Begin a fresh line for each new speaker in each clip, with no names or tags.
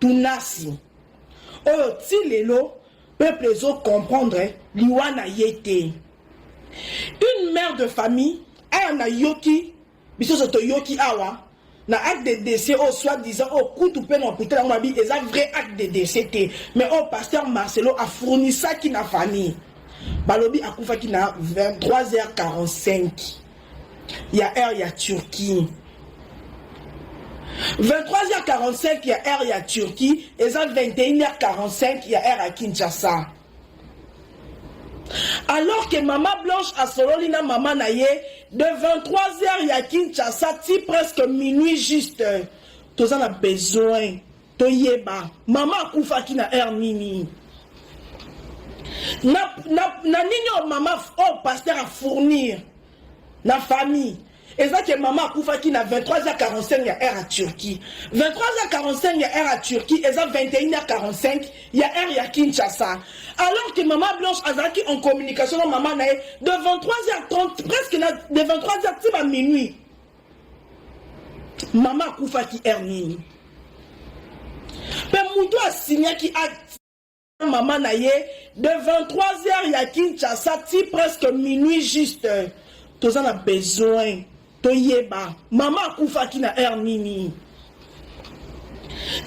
Tunasi oyo ti lelo peuple ezo comprendre liwa na ye te. Une mère de famille aya na yoki biso so toyoki awa na acte de décès au soit disant au kutu pe na hôpital yango babi eza vrai acte de décès te mais au pasteur Marcelo a fournisaki na famille balobi akufaki na 23h45 ya heure ya Turquie 23h45 ya heure ya Turquie eza 21h45 ya heure ya Kinshasa alors que mama blanche asololi na mama na ye de 23h ya Kinshasa ti presque minuit juste toza na besoin toyeba mama akufaki na heure nini na, na, na nini oyo mama oyo oh, paster afournir na famille eza ke mama akufaki na 23h45 ya heure ya turquie 23h45 ya heure ya turquie eza 21h45 ya heure ya kinshasa alors que mama blanche azalaki en communication na mama na ye de 23h30 presque na de 23h ti ba minuit mama akufaki heure nini mpe moto asinyaki acte mama na ye de 23 heures ya kinshasa ti presque minuit juste toza na besoin toyeba mama akufaki na heure nini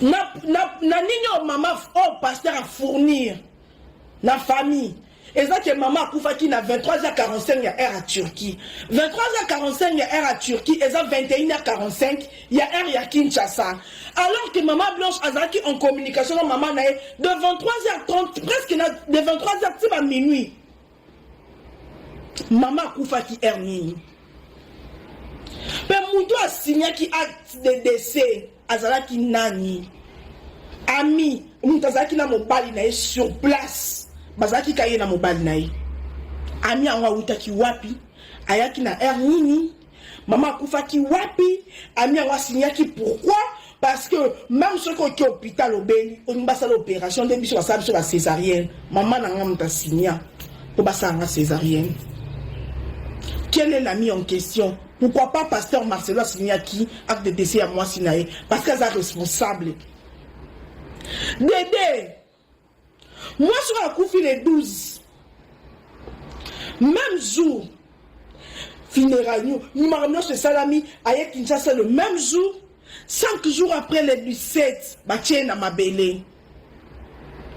na, na, na nini oyo mama oyo oh, paster afournir na famille eza ke mama akufaki na 23h45 ya heure ya Turquie. 23h45 ya heure ya Turquie eza 21h45 ya heure ya Kinshasa. Alors que mama Blanche azalaki en communication na mama na ye de 23h30 presque na de 23h ti ba minuit. Mama akufaki heure nini? Pe mutu asignaki acte de décès azalaki nani ami moto azalaki na mobali na ye sur place bazalaki ka ye na mobali na ye ami yango awutaki wapi ayaki na aire nini mama akufaki wapi ami yango asinyaki pourquoi parce que même soki oki hôpital obeli olingi basala opération nde biso basala biso bacésarienne mama na nga moto asinya mpo basala nga césarienne quel est l'ami en question Pourquoi pas pasteur Marcelo asignaki acte de décès ya mwasi na ye parce que aza responsable. Dede mwasi oyo akufi le 12 même jour funérailles nio mimaka nyonso esalami aye kinshasa le même jour 5 jours après le 17 batie ye na mabele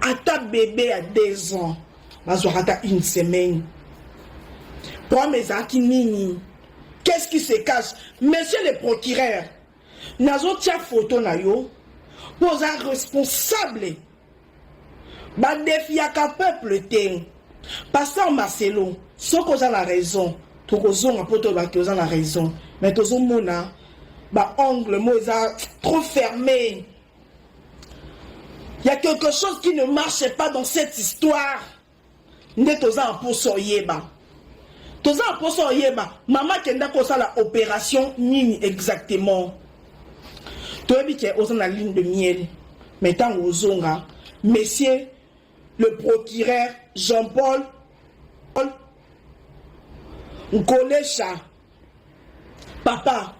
ata bebe ya deux ans bazwaka ata une semaine problème ezalaki nini qu'est-ce qui se cache monsieur le procureur nazotia foto na yo mpo oza responsable badefiaka peuple te pasteur marcelo soki oza na raison tokozonga mpo toloba te oza na raison mais tozomona baangle mo eza trop ferme Il y a quelque chose qui ne marche pas dans cette histoire. Nde toza en posa oyeba. Toza en posa oyeba. Mama kenda kosala opération nini exactement. Toyebi ke oza na ligne de miel. Mais tango ozonga, monsieur le procureur Jean-Paul Nkolesha papa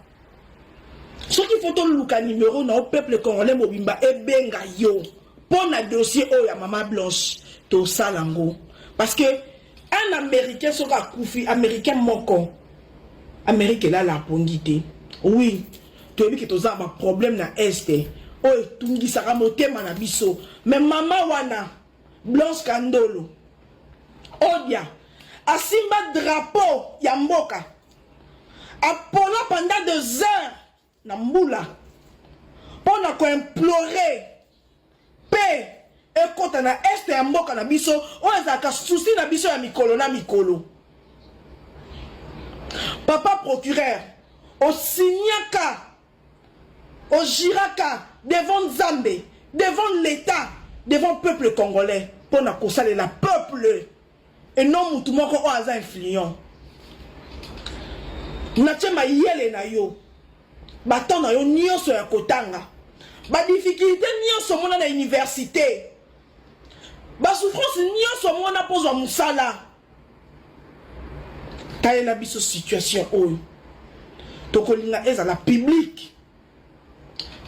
soki fo toluka nimero na yo peuple congolais mobimba ebenga yo mpo na dossier oyo ya mama blanche tosala yango parce que un américain soki akufi américain moko amérike elala apongi te oui toyebi ke toza baproblème na este oyo etungisaka motema na biso me mama wana Blanche Kandolo Odia asimba drapeau ya mboka apola pendant deux heures na mbula mpo na koimplore mpe ekota na este ya mboka na biso oyo ezalaka susi na biso ya mikolo na mikolo papa procureur osignaka O juraka devant Nzambe, devant l'Etat, devant peuple congolais mpo na kosalela peuple et non mutu moko oyo aza influent. Natie mayele na yo, ba temps na yo nyonso ya kotanga, ba difficultés nyonso omona na universite, ba souffrances nyonso omona mpo ozwa mosala. talela biso situation oyo tokolinga ezala publique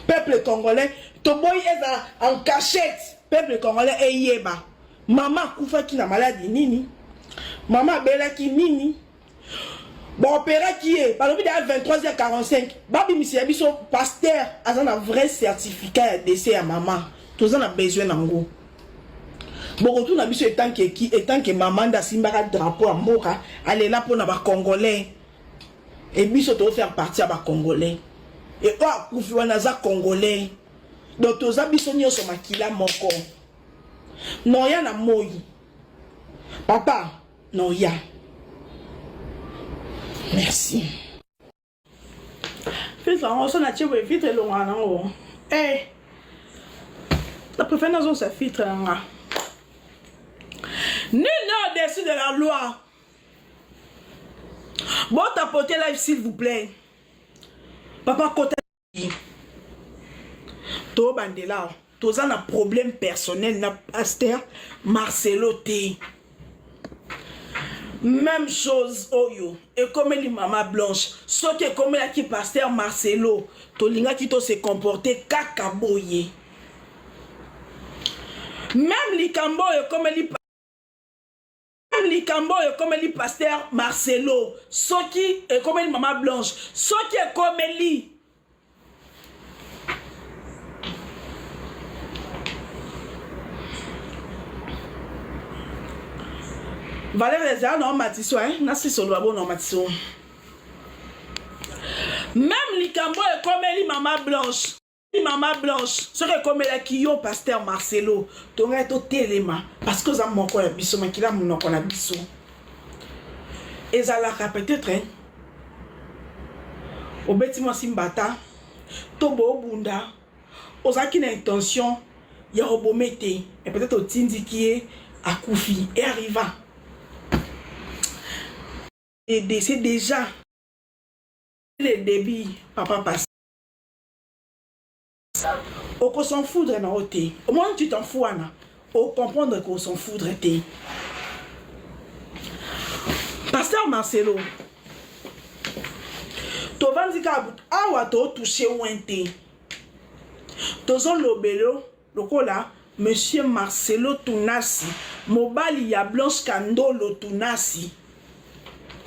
peuple congolais toboyi ezala en cachette peuple congolais eyeba mama akufaki na maladi nini mama abelaki nini baoperaki ye balobi deya 23h45 babimisa ya biso paster aza na vrai certificat ya dese ya mama toza na besoin na yango bokotuna biso etanke ki etanke mama nde asimbaka drapeau ya mboka alela mpo na bacongolais e biso tozofaire partie ya bacongolais e oyo akufi wana aza congolais donc toza biso nyonso makila moko noya na moi papa noya merci filtre yango so natie boye filtre elongaka nango e eh, na préfère nazongisa filtre na nga nul ne au-dessus de la loi botapote live s'il vous plaît papa kota tobandela awa toza na problème personnel na pasteur marcelo te même chose oyo ekomeli mama blanche soki ekomelaki pasteur marcelo tolingaki to se comporte kaka boye même likambo oyo ekomeli likambo oyo ekomeli paster marcelo soki ekomeli mama blanche soki ekomeli valeur ezala na omatiso eh? nasisoloba bo na omatiso meme likambo oyo ekomeli mama blanche mama blanche soki ekomelaki yo paster marcelo tongai totelema parce que oza moko ya biso makila monoko na biso ezalaka peut-être hein? obeti mwasi mbata to boobunda ozalaki na intention ya kobome te e peut-être otindiki ye akufi e arriva c'est déjà le début papa passe oko s'en foudre na yo te omoni tu t'en fou wana ocomprendre ko s'en foudre te pasteur marcelo tovandi kaka awa totouche wen te tozolobelo Lokola Monsieur Marcelo Tunasi, mobali ya Blanche Kandolo Tunasi.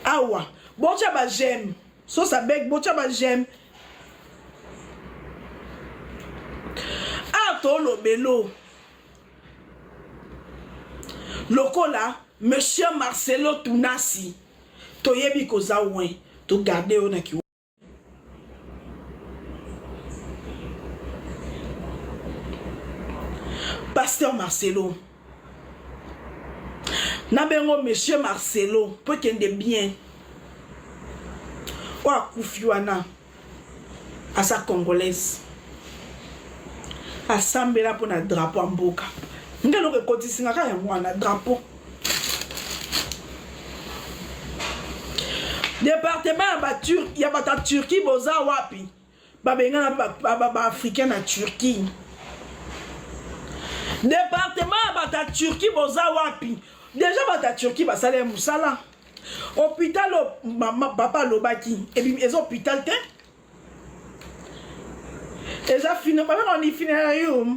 Awa, bocha ba j'aime. Sosa beg, bocha ba j'aime. Awa tolobelo. Lokola Monsieur Marcelo Tunasi. Toyebi koza wen. To garde yo na ki pasteur marcelo na bengo monsieur marcelo mpo ekende bien oyo akufi wana aza congolaise asambela mpo na drapo ya mboka ngai eloko ekotisinga kaka yango wana drapo departement ya batur ya bato ya turquie boza wapi babengana baafricain na turquie departement ya bato ya turquie boza wapi deja bato ya turquie basala ya mosala hôpital mama papa alobaki eza hôpital te eza fina babengani finalayo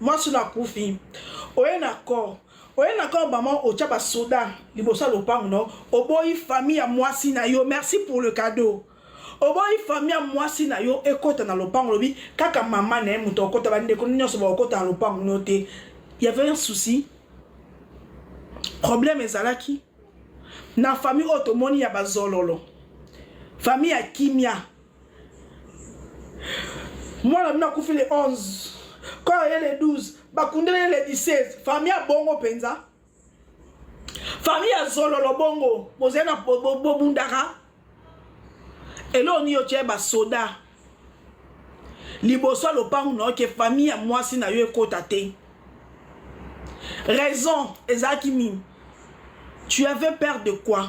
mwasi na kufi oye na corps oye na corps maman otya basoda liboso ya lopango na yo oboyi famille ya mwasi na yo merci pour le cadeau oboyi fami ya mwasi na yo ekota na lopango lobi kaka mama na ye moto akokota bandeko nyonso bakokota na lopango no te yavait un souci problème ezalaki na fami oyo tomoni ya bazololo fami ya kimia mwana bino akufi le 11 kor ye le 12 bakundeli ye le 16 fami ya bongo mpenza fami ya zololo bongo bozali na bobundaka eloo nini otye basoda liboso ya lopango na yo ke fami ya mwasi na yo ekota te raison ezalaki nini tu avais peur de quoi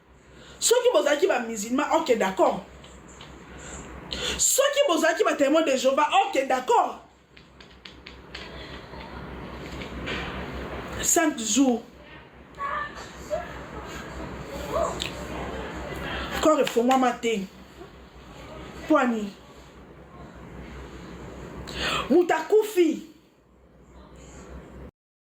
soki bozalaki ba musulman ok d'accord soki bozalaki ba témoin de jehova ok d'accord 5 jours corps efongwama te pwani moto akufi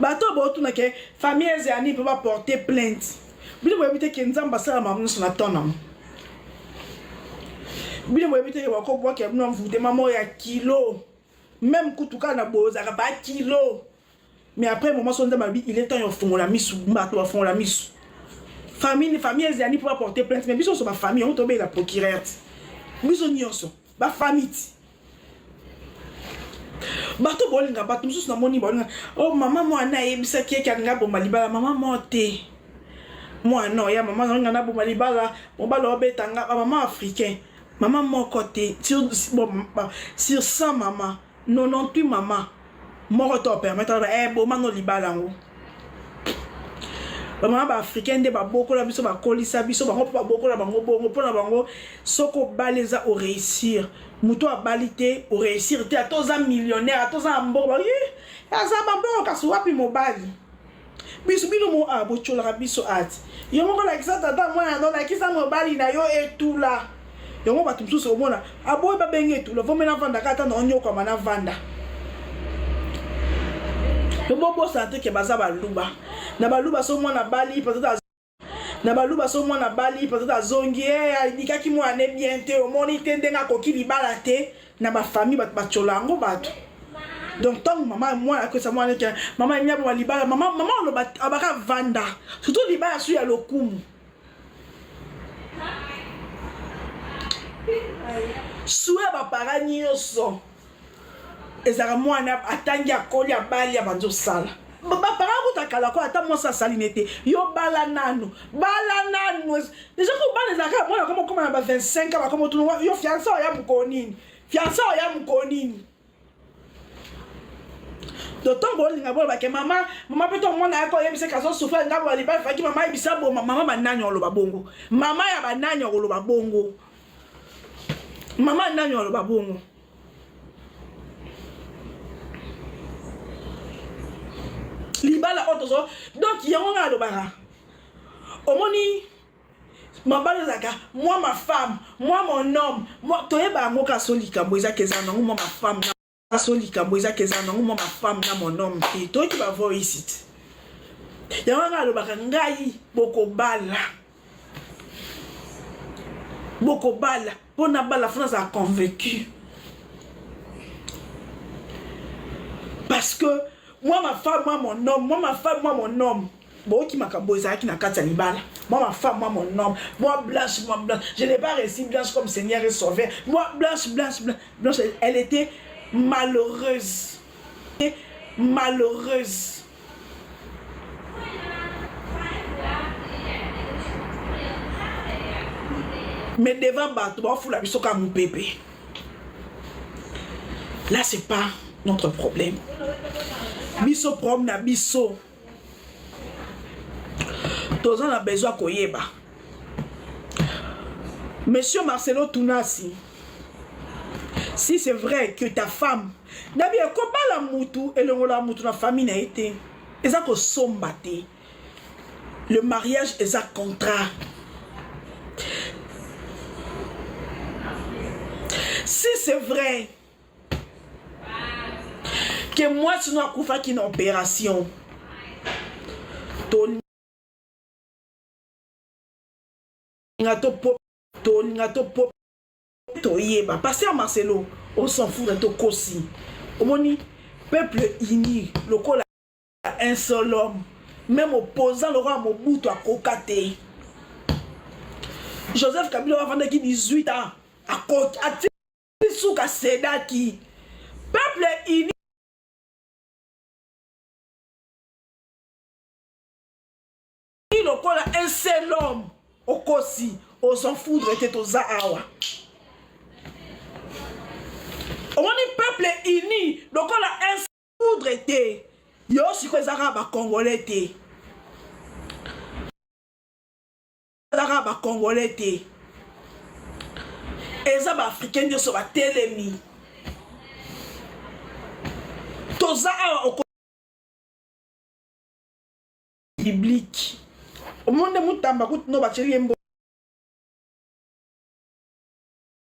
bato oyo baotuna ke famille eze ya nini mpo baporte plainte bino boyebi te ke nzambe asala makambo nyonso na temps nango bino boyebi te ke bakobwaka bino envoutema moko ya kilo meme kutu kaka na bozaka ba kilo mais après moment so nzambe alobi il est temps ya ofongola misu bato bafongola misu famille famille ezali mpo baporte plainte mais biso nyonso bafamille yango tobeyela procureur biso nyonso ba famiti bato bolinga bato mosusu namoni balinga o oh, mama mwana ayebisaki yeke alinga aboma libala mama mo te mwana oya mama nalinga naboma libala mobala obetanga bamama africain mama moko te sur 100 mama 98 maman moko to permettre ba eh boma no libala yango ba maman ba africain nde ba bokola biso ba kolisa biso bango pe ba bokola bango bongo pona bango soko baleza o réussir mutu abali te o réussir te atoza millionnaire atoza mbongo ba aza ba mbongo kasi wapi mobali biso bino mo a ah, bocolaka biso ati yo moko lakisa tata mwana no lakisa mobali na yo etula yango bato mosusu omona aboyi babengi etula vome navandaka ata na onyokwama navanda bobosana te ke baza baluba na baluba so mwana bali peut-être na baluba so mwana abali peut-être azongi e alikaki mwana ne bien te omoni te ndenge akoki libala te na bafamille bato batyola yango bato donc ntango mama mwana akoyesa mwana neke mama emi aboma libala mama mama oloba abaka vanda surtout libala su ya lokumu su ya bapara nyonso ezalaka mwana atangi akoli abali abanzi osala bapara kuta kala ko ata mwasi asali ne te yo bala nanu bala nanu deja ko bana ezalaka mwana koma okoma na ba 25 a bakoma otuna yo fiansa oya mokolo nini fiansa oya mokolo nini dotango bolinga boloba ke mama mama mpe to mwana yako oyebisa ke azosufra ngambo ya libali faki mama ayebisa boma mama banani oloba bongo mama ya banani okoloba bongo mama nani aloba bongo libala oyo tozo donc yango ngai alobaka omoni mabala ezalaka mwa mafame mwa monome toyeba yango kasi likambo ezaka eza nango mwa mafame so likambo eza ke eza nango mwa mafame na monome te toyoki bavoice te yango anga alobaka ngai bokobala bokobala mpo nabala fo nazala convaincu parce que moi ma femme moi mon homme moi ma femme moi mon homme boyoki makambo oyo ezalaki na kati ya libala mwa mafemme mwa monome mwa blanche mwa blanche je n'ai pas réussi blanche comme seigneur et sauveur mwa blanche blanche blanche elle était malheureuse malheureuse mais devant bato bafula biso kaka mopepe là c'est pas notre problème biso problème na biso toza na besoin ya koyeba monsieur marcelo tunasi si c'est vrai que ta femme nabi ekobala mutu elongola mutu na famille na ye te eza kosomba te le mariage eza contrat si c'est vrai ke mwasi no akufaki na operation tolinga topo tolinga topo toyeba paster marcelo on s'en fout na tokosi omoni peuple uni lokola un seul homme même opposant lokola mobutu akoka te joseph kabila avandaki 18 ans akoki suka sedaki peuple uni lokola un seul homme okosi ozan foudre te toza awa omoni peuple uni lokola un foudre te yo sikoyo ezaka bakongole te ezaka ba congolais te eza ba africain nyonso batelemi toza awa biblique omoni nde mutamba kutu no batyeli ye mbo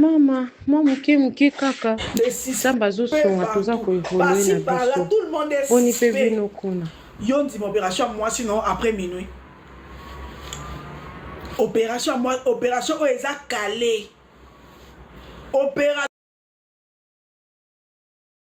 Mama, mwa moke moke kaka Nzambe azosunga toza koevolue na biso boni mpe
bino kuna.
Yo ndima operation
ya mwasi no après minuit operation operation oyo eza kale opera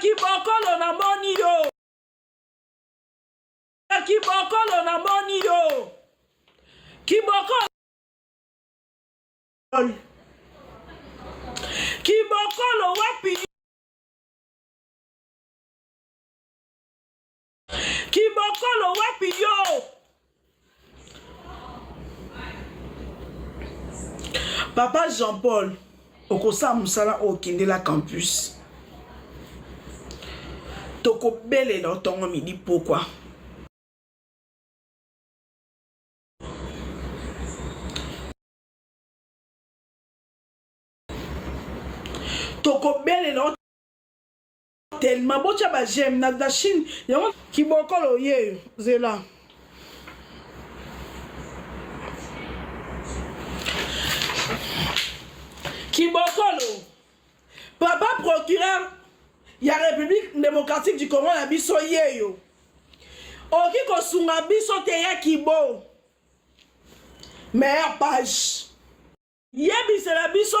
kibokolo namoni yo kibokolo namoni yo kibokolo kibokolo wapi kibokolo wapi yo papa jean paul okosala mosala oyo okendela campus tokobelela otongo midi pokwa tokobelela tellement botya ba j'aime na, na chine yango kibokolo yeyo zela kibokolo papa procureur ya république démocratique du congo na biso yeyo oki kosunga biso te ya kibo meilleure page yebisela biso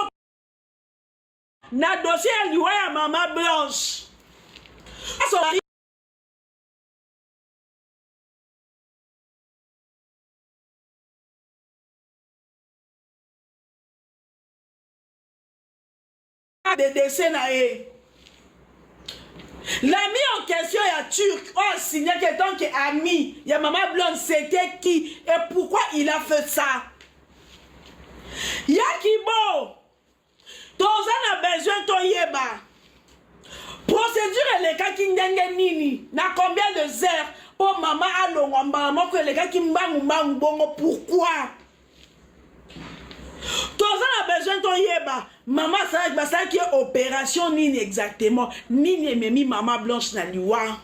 na dossier ya liwa ya mama blanche de décès na ye l'ami en question ya turc oyo asignaki etant que ami ya mama blonde c'était qui et pourquoi il a fait ça ya kibo toza na besoin toyeba procédure elekaki ndenge nini na combien de heures mpo mama alongwa mbala moko elekaki mbangu mbangu bongo pourquoi toza na besoin toyeba mama asalaki basalaki ye opération nini exactement nini ememi mama blanche na liwa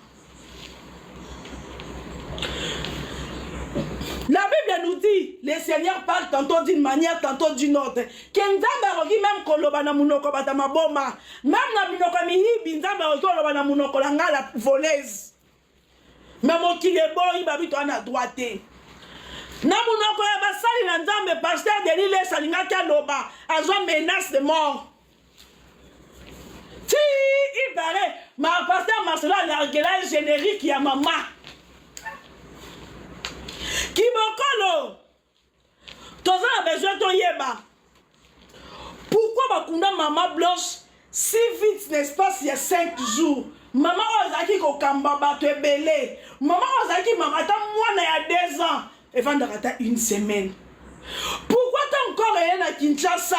La Bible nous dit, le Seigneur parle tantôt d'une manière, tantôt d'une autre. Que Nzambe akoki même koloba na munoko bata maboma. Même na minoko ya miyibi, Nzambe akoki koloba na munoko la nga la voleuse. Mais mokili eboyi babitu wana droit te. Na munoko ya basali na Nzambe, pasteur Denis Lesa alingaki aloba, azwa menace de mort. ma pasteur marcelo alargela générique ya mama kibokolo toza na besoin toyeba pourquoi bakunda mama blanche si vite na espace ya 5 jours mama oyo azalaki kokamba bato ebele mama oyo azalaki mama ata mwana ya 2 ans efandaka ata une semaine pourquoi ta encore eye na kinshasa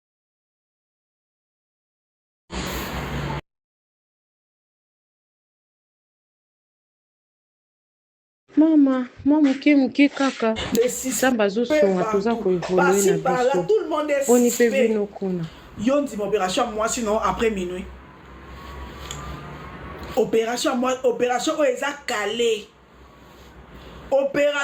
mama mwa moke moke kaka nzambe azosunga toza koevolue na biso boni mpe bino kuna yo ndima opération
ya mwasi no après minuit opération opération oyo eza kale opéra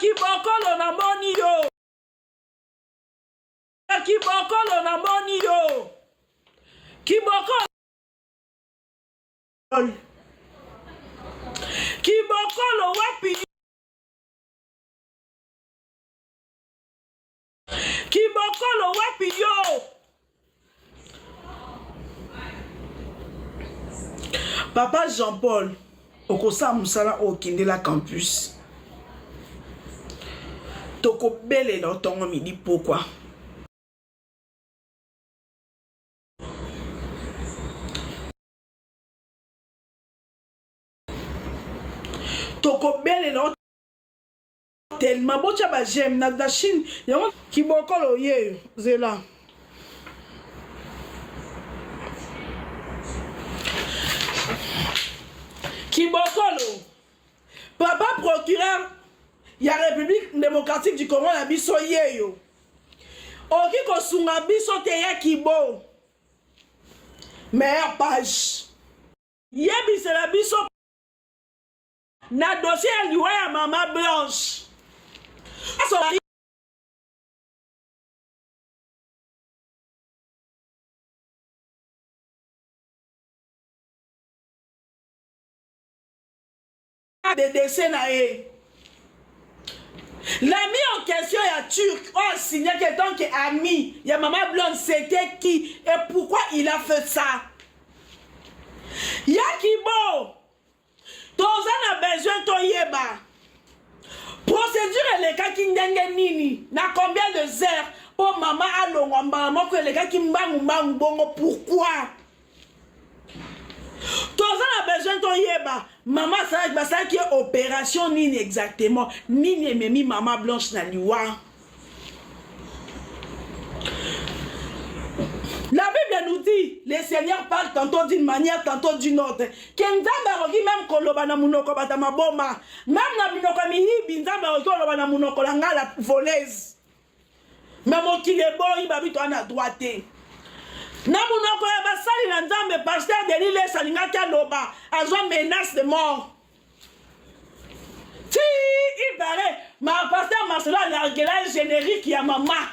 kibokolo namoni yo kibokolo namoni yo kibokolo kibokolo wapi kibokolo wapi yo papa jean paul okosala mosala oyo okendela campus tokobelela otongo midi pokwa tokobelela tellement botya ba j'aime na, na chine yango kibokolo yeyo zela kibokolo papa procureur ya république démocratique du congo na biso yeyo oki kosunga biso te ya kibo meilleure page yebisela biso na dossier ya liwa ya mama blanche de dese na ye la mis en question ya turc oyo oh, asignaki etant que ami ya mama blonde c'était qui et pourquoi il a fait ça ya kibo toza na besoin toyeba procédure elekaki ndenge nini na combien de heures mpo mama alongwa mbala moko elekaki mbangu mbangu bongo pourquoi toza na besoin toyeba mama asalaki basalaki ye opération nini exactement nini ememi mama blanche na liwa La Bible nous dit, le Seigneur parle tantôt d'une manière, tantôt d'une autre. Que Nzambe akoki même koloba na munoko bata maboma. Même na minoko miyibi, Nzambe akoki koloba na munoko la nga la voleuse. Mais mokili eboyi babi toi na droit te. Na munoko ya basali na Nzambe, pasteur Denis Lesa alingaki aloba, azwa menace de mort. ti ibare ma pasteur marcelo alargela générique ya mama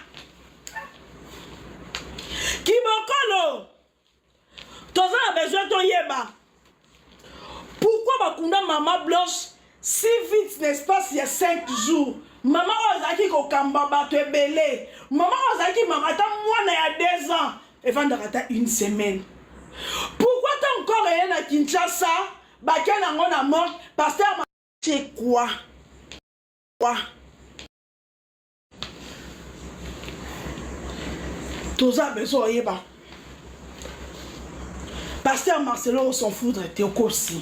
kibokolo toza na besoin toyeba pourquoi bakunda mama blanche si vite na espace ya 5 jours mama oyo azalaki kokamba bato ebele mama oyo azalaki mama ata mwana ya 2 ans efandaka ata une semaine pourquoi ta encore eye na kinshasa Batia na ngo na morgue pasteur ma c'est quoi? Quoi? toza besoin oyeba pasteur marcelo osanfoudre te okosi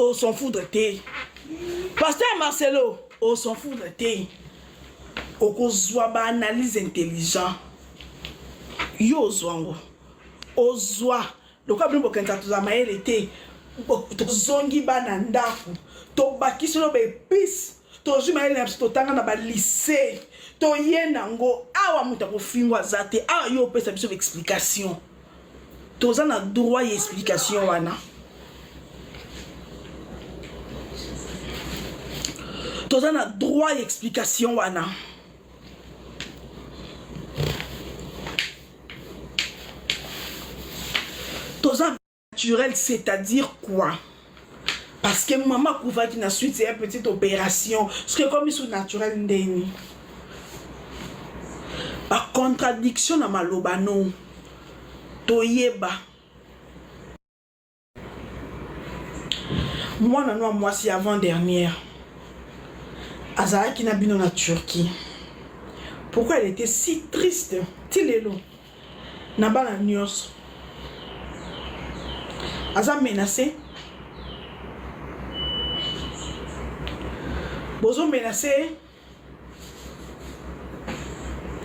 au s'en foudre te pasteur marcelo au s'en foudre te okozwa baanalyse intelligent yo ozwa yango ozwa lokola bino bokanisa toza mayele te tozongi bana ndako tobakisi loba epice tozwi mayele na biso totanga na balise toye nango awa moto akofingo aza te awa yo opesa biso baexplication toza na droit ya explication wana toza na droit ya explication wana toza Naturel c'est-à-dire quoi? Parce que maman akufaki na suite ya petite opération, ce que comme sous naturel ndeni. Ba contradiction na maloba no. Toyeba. Mwana no mwasi avant dernière azalaki na bino na Turquie. Pourquoi elle était si triste? Tilelo. na bana nionso aza menace bozo menace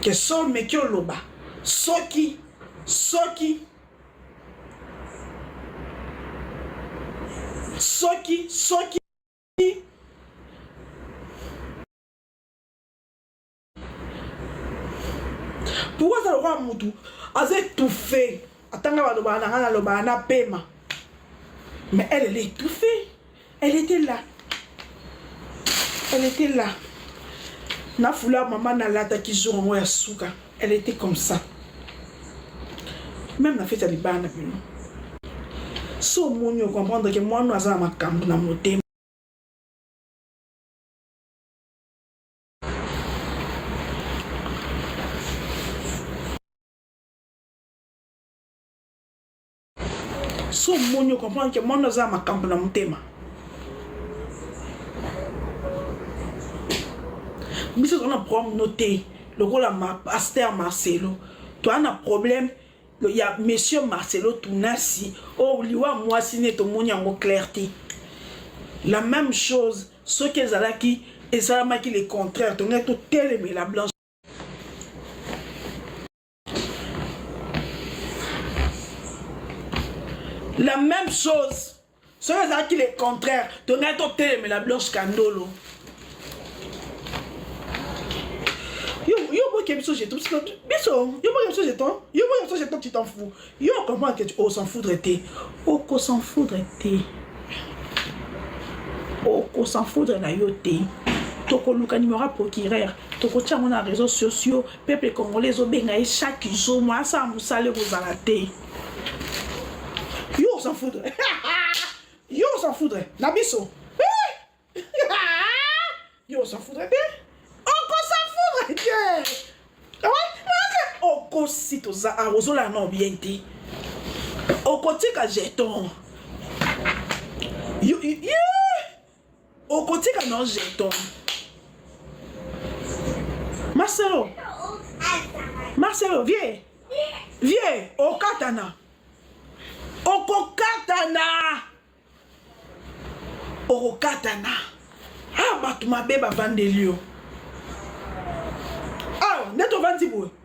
ke sol meki oloba soki soki soki soki pourkoi aza lokola mutu aza étouffe atanga balobaka na ngai nalobaka na pema mais elle elle est étouffée elle était là elle était là na fula mama nalataki jour yango ya suka elle était comme ça même na feti ya libala na bino so omoni okomprendre ke mwana aza na makambo na motema so omoni okomprendre ke mwana oza na makambo na motema biso toza na problème no te lokola paster marcelo toza na problème ya monsieur Marcelo Tunasi oh liwa mwasi ne tomoni yango clair te la même chose soki ezalaki esalamaki le contraire tongaki totelemela blanche la même chose soki ezalaki le contraire tongaki totelemela blanche kandolo yo boke biso jeton biso yo boke biso jeton yo boke biso jeton tu t'en fous yo comprendre que tu o s'en foudre te oko s'en foudre te oko s'en foudre na yo te tokoluka numéro ya procureur tokotia yango na réseau sociaux Peuple congolais ezobenga ye chaque jour mwa asala mosala ekozala te yo s'en foutre yo s'en foutre na biso yo s'en foutre te okosa foutre te okosi toza ah, ozolala nao bien te okotika jeton okotika na jeton marcelo marcelo vie vie okatana okokatana okokatana a ah, bato mabe bavandeli yo awa ah, nde tovandi boye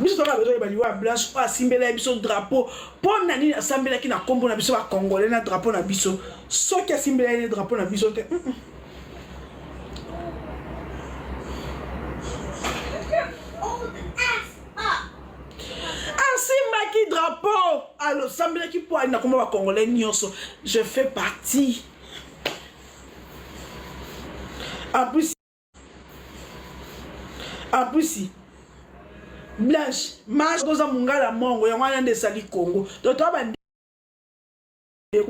biso toka bezo yeba liwa ya blanche oyo asimbela ye biso drapeau mpo na nini asambelaki na nkombo na biso bacongolais na drapeau na biso soki asimbela ye ne drapeau na biso te mm -mm. asimbaki drapeau alosambelaki mpo ali na nkombo bacongolais nyonso je fais partie en plus en plus blanche marche oza mongala mongo yango wana nde esali congo to toa bandeko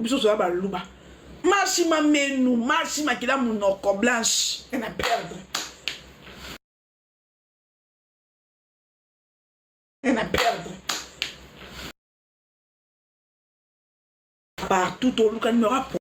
biso toza baluba marche mamenu marche makila monoko blanche na perdre na perdre partout toluka numero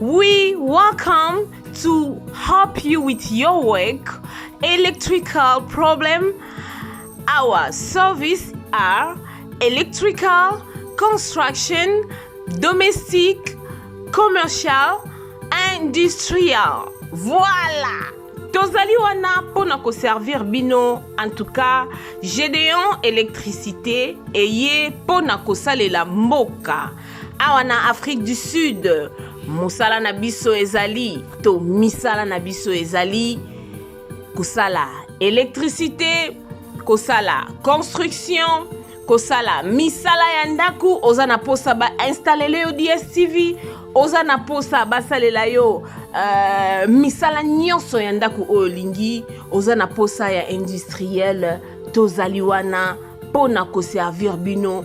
We welcome to help you with your work, electrical problem. Our service are electrical, construction, domestic, commercial, industrial. Voilà! tozali wana mpo na koservir bino en tout cas gedeon électricité eye mpo na kosalela mboka awa na afrique du sud mosala na biso ezali to misala na biso ezali kosala électricité kosala construction kosala misala ya ndako oza na mposa bainstallele yo dstv oza na mposa basalela yo uh, misala nyonso ya ndako oyo olingi oza na mposa ya industriel tozali wana mpo na koservir bino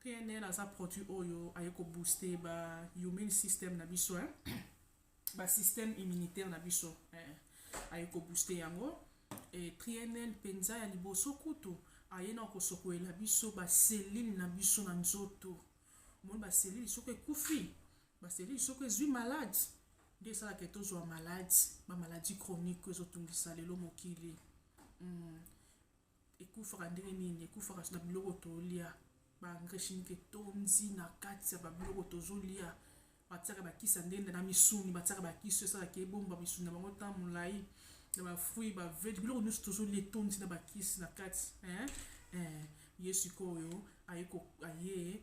PNL aza produit oyo aye ko booster ba immune system na biso hein? ba système immunitaire na biso eh, aye ko booster yango e PNL penza ya liboso kutu aye na kosokolela biso ba cellule na biso na nzoto omoni ba cellule soko ekufi ba cellule soko ezwi malade nde esalaka tozwa malade ba maladie chronique ezotungisa lelo mokili mm. ekufaka ndenge nini ekufaka na biloko tolia ba engrais chimique etondi na kati ya babiloko tozolia batiaka bakisa ndenge na misuni batiaka bakisi esalaka ebomba misuni na bango ntan molai na bafruit bavege biloko nyonso tozolia etondi na bakisi na kati ye sikoyo aye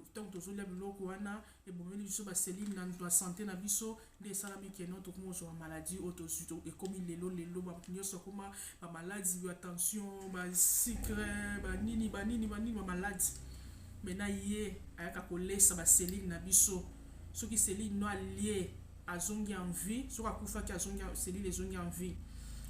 ntango tozolia biloko wana ebomeli biso baselile na nto ya sante na biso nde esalami keno tokomi kozwa bamaladi oyo tozwi ekomi lelo lelo bato nyonso akoma bamaladi ya tension basikre banini banini banini bamaladi me na ye ayaka kolesa baselile na biso soki selile no alie azongi en vie soki akufaki azongi selile ezongi en vie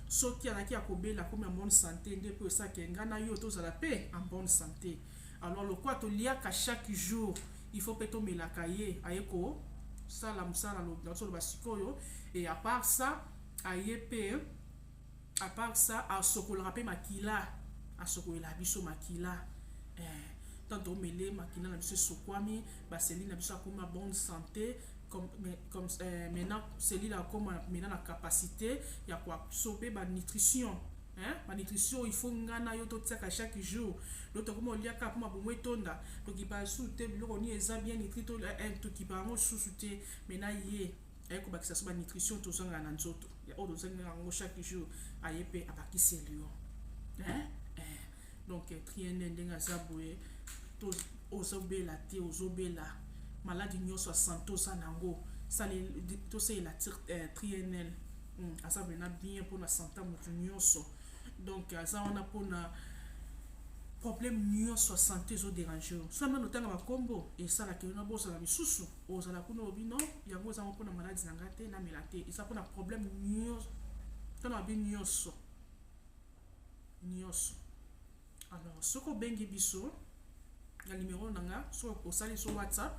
soki alaki ya kobela akomi en bonne sante nde mpo esaka enga na yo tozala mpe en bonne sante Alors lokola to liaka chaque jour, il faut pe to melaka ye aye ko sala musala lo na solo basikoyo et à part ça aye pe à part ça asokolaka pe makila asokolela biso makila eh tant to mele makila na biso sokwami ba seli na biso akoma bonne santé comme, mais, comme euh, maintenant celui là comme maintenant la capacité ya quoi sauver ba nutrition Hein? Ba nutrition il faut nga na yo totiaka chaque jour. Donc tokoma oliaka po mabumu etonda, tokipa su te biloko ni eza bien nitri to eh, eh tokipa yango susu te mais na ye aye kobakisa so ba nutrition tozanga na nzoto ya oyo tozanga yango chaque jour aye pe abakisi elio hein? donc eh, triene ndenge aza boye to ozobela te ozobela maladi nyonso ya sante oza na yango tosalela eh, trienl hmm, aza mpena bien mpona sante ya moto nyonso donc aza wana mpona problème nyonso ya sante ezoderange yo so nano otanga bakombo esalaka yo na bozala misusu ozala kuna olobi no yango ezango mpona maladi na ngai te namela te eza mpona problème nyonso mpona mabe nyonso nioso alors soki obengi biso na numero na nga soki osali biso whatsapp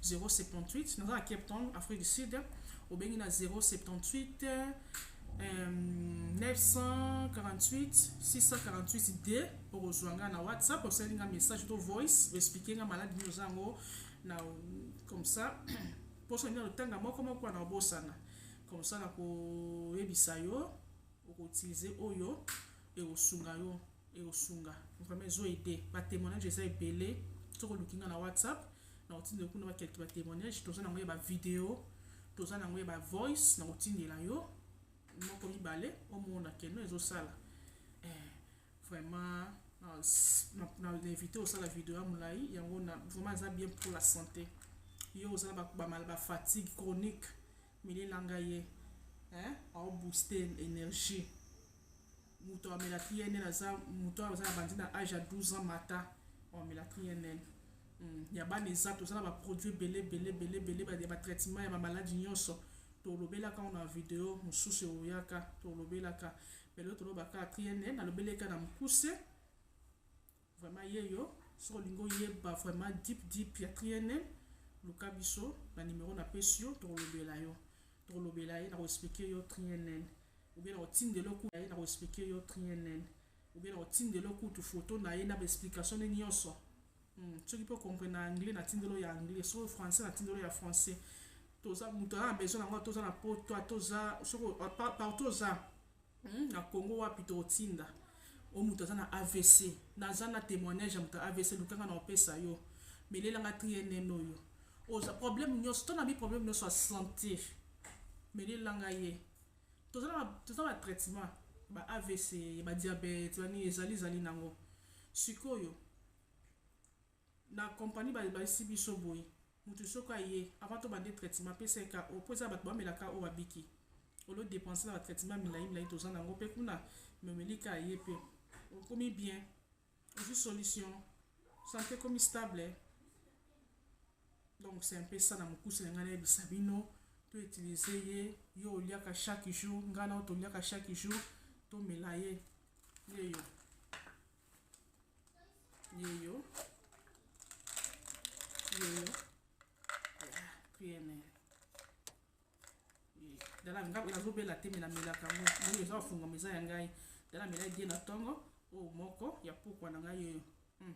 078 naza na cape town afrique du sud obengi na 078 euh, 948 648 d okozwa nga na whatsapp osali nga message to voice oexplike nga maladi nini oza yango na comme ça mposo nini otanga moko moko na obosana comme ça nakoyebisa yo oko utiliser oyo ekosunga yo ekosunga vraiment ezo aide ba témoignage eza ebele soki oluki nga na whatsapp na otindela kuna ba quelque ba témoignage toza nango ya ba video toza nango ya ba voice na otindela yo moko mibale omona keno ezosala eh, vraiment na invité osala video ya molai yango na vraiment eza bien pour la santé yo oza na ba fatigue chronique Mele na nga ye eh, au booster energie. Moto amela TNN aza moto aza na bandi na âge ya 12 ans mata amela TNN. Mm. Ya bana eza toza na ba produits bele bele bele bele ba ya ba traitement ya ba maladies nyonso. Tolobelaka na video mosusu oyaka tolobelaka. Belo tolobaka TNN alobeleka na mukuse. Vraiment yeyo soki olingi oyeba vraiment deep deep ya triene luka biso na numero na pesi yo tokolobela yo tokolobela ye na koexplike yo triene ou bien na kotindela oku ye na koexplike yo triene ou bien na kotindela okutu foto na ye na baexplication ne nyonso hmm. soki mpe okomprene na anglais na tindelo ya anglais soki français na tindelo ya français toza moto aza na besoin na yango toza na poto toza soki partout oza Hum na Congo wapi toko tinda o mutu aza na avc naza na temoignage ya mutu avc luka nga na opesa yo melela nga trienne oyo oza problème nioso to na bi problème nioso ya santé melela nga ye toza na toza na traitement ba avc ba diabète ba nini ezali zali nango sikoyo Na company ba layisi biso boye mutu soki aye avant to bande traitement apesa ye KO po eza batu ba mela KO ba biki au lieu de depenser na ba traitement milayi milayi toza nango pe kuna mais omeli KO aye pe okomi bien ozui solution sante ekomi stable donc c'est un peu ça na mukuse na ngai na yebisa bino to utiliser ye yo oliaka chaque jour ngai na yo toliaka chaque jour tomela ye yeyo yeyo yeyo priere dala nga nazobela te me namelaka ngo moni eza ofungama eza ya ngai dala mela die na ntongo oyo moko ya pokwa na ngai yeyo hmm.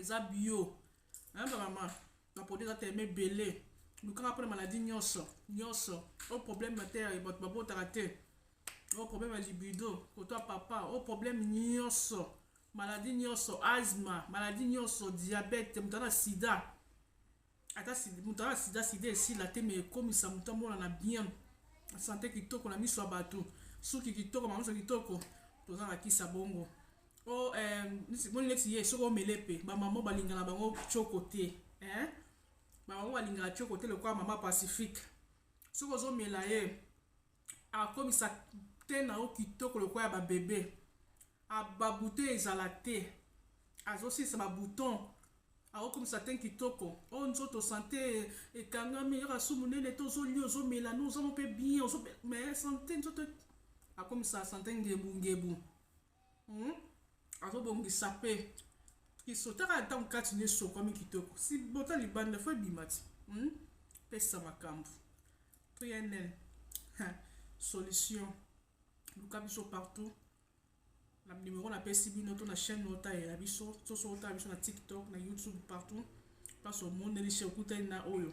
eza bio hein ba maman ba produit eza tellement ebele lukaka mpona maladie nyonso nyonso o oh, problème na te ya bato babotaka te o oh, problème ya libido kotwa papa o oh, problème nyonso maladie nyonso asma maladie nyonso diabète moto ana sida ata moto aa sida sida esila te me ekomisa moto amonana bien sante kitoko na miso ya bato suki kitoko mamiso kitoko toza na kisa bongo o oh, eh, moni neti ye soki omele mpe bamama balingana bango coko te eh? bamama balingana coko te lokola mama pacifique soki ozomela ye Akomisa teint na yo kitoko lokola ya ba bebe. A ba boutons ezala te. Azo silisa ba boutons. Ako komisa teint kitoko. Oh nzoto sante ekangami kaka su munene te ozo lia ozo mela no oza moko pe bien ozo mais sante nzoto akomisa sante ngebu ngebu. Hum azo bongisa pe kiso taka na tango kati na esokwami kitoko si bota libanda fo ebima ti hum pesa makambu pnl ha solution luka biso partout na numero na pesi bino to na chaîne oyo talela biso soso otala biso na tiktok na youtube partout place omoneli chez okutani na oyo